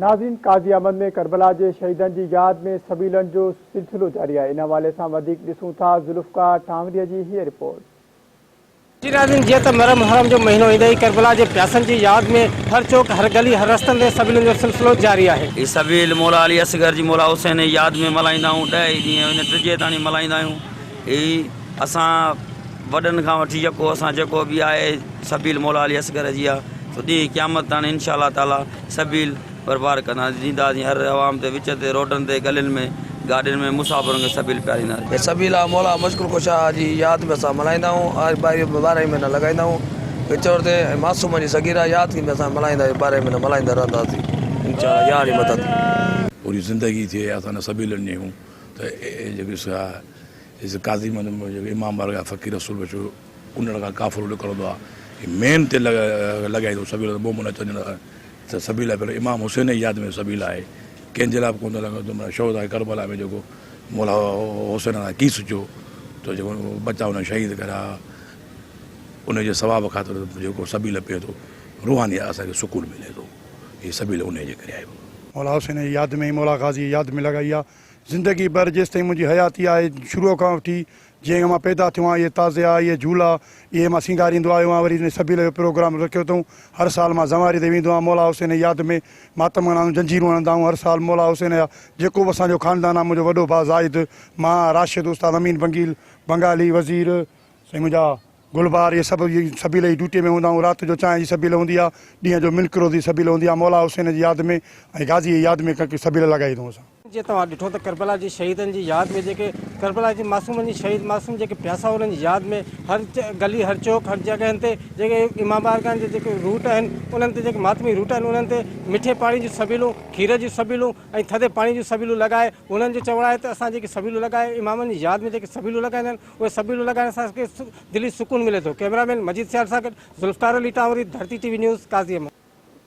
ناظرين قاضي احمد ۾ ڪربلا جي شهيدن جي ياد ۾ سبيلن جو سلسلو جاري آهي ان حوالي سان وڌيڪ ڏسون ٿا ذوالفقار ٺانوريء جي هيء رپورٽ. جي ناظرين جيئن ته مره محرم جو مهينو ايندي ئي ڪربلا جي پياسن جي ياد ۾ هر چوڪ هر گلي هر رستن تي سبيلن جو سلسلو جاري آهي. هي سبيل مولا علي اصغر جي مولا حسين جي ياد ۾ ملهائيندا آهيون ڏهه ئي ڏينهن اڃا ٽجي تاڻي ملهائيندا آهيون هي اسان وڏن کان وٺي يڪو اسان جيڪو به آهي سبيل مولا علي اصغر جي آهي سو ڏينهن قيامت تاڻي انشاء الله تعالٰي سبيل پرپار ڪندا ڏينداسين هر عوام تي وچ تي روڊن تي گلين ۾ گاڏين ۾ مسافرن کي سبيل پيارينداسين. هي سبيل آ مولا مشڪل ڪشا آ جي ياد ۾ اسان ملهائيندا آهيون آء ٻارهي ٻارهائي مهينا لڳائيندا آهيون وچ وچ تي ۽ معصومن جي صغيره ياد ٿيندي اسان ملهائيندا آهيون ٻارهي مهينا ملهائيندا رهنداسين انشاء الله يا علي مدد. پوري زندگي ٿئي اسان نه سبيلن جي هون ته اي جيڪي سا جيسين قاضي امام بارگاهه فقير رسول بخش ڪنڙ کان قافلو نڪرندو آهي ۽ مين تي لڳائيندو سبيل ته مومن اچن ته ته سبيل پهريون امام حسين جي ياد ۾ سبيل آهي ڪنهن جي لاء به ڪونه ٿو لڳائي ته شهداء ڪربلا ۾ جيڪو مولا حسين سان ڪيس ٿيو ته جيڪو ٻچا هن شهيد ڪريا ان جي ثواب خاطر جيڪو سبيل پئي ٿو روحاني اسان کي سڪون ملي ٿو هي سبيل ان جي ڪري آهي مولا حسين جي ياد ۾ مولا غازي جي ياد ۾ لڳائي آهي. زندگي ڀر جيستائين منهنجي حياتي آهي، شروع کان وٺي جنهن کان مان پيدا ٿيو آهيان، اهي تعزيا، اهي جهولا، اهي مان سينگاريندو آيو آهيان، وري هن سبيل جو پروگرام رکيو اٿئون، هر سال مان زنواري تي ويندو آهيان، مولا حسين جي ياد ۾ ماتم منا آهيون، زنجيرون هڻندا آهيون، هر سال مولا حسين جا جيڪو به اسان جو خاندان آهي، منهنجو وڏو ڀاء زاهد، مان، راشد، استاد امين بنگيل، بنگالي، وزير، سائين منهنجا گلبار اهي سڀ سبيل جي ڊيوٽي ۾ هوندا آهيون. رات جو چانهه جي سبيل هوندي آهي. ڏينهن جو ملڪ روزي سبيل هوندي آهي. مولا حسين جي ياد ۾ ۽ غازيء جي ياد ۾ ڪنڪ سبيل لڳائي ٿو اسان. جيئن توهان ڏٺو ته ڪربلا جي شهيدن جي ياد ۾ جيڪي ڪربلا جي معصومن جي شهيد معصوم جيڪي پياسا انهن جي ياد ۾ هر گلي هر چوڪ هر جڳهن تي جيڪي امام بارگاهن جا جيڪي روٽ آهن انهن تي جيڪي ماتمي روٽ آهن انهن تي مٺي پاڻي جون سبيلون کير جون سبيلون ۽ ٿڌي پاڻي جون سبيلون لڳائي انهن جو چوڻ آهي ته اسان جيڪي سبيلون لڳائي امامن جي ياد ۾ جيڪي سبيلون لڳائيندا آهن اهي سڀ ويڊيو لڳائڻ سان اسان کي دلي سڪون ملي ٿو، ڪئميرا مين مجيد سيال سان گڏ Zulfiqar Ali Tanwari, Dharti T V news, Qazi Ahmed.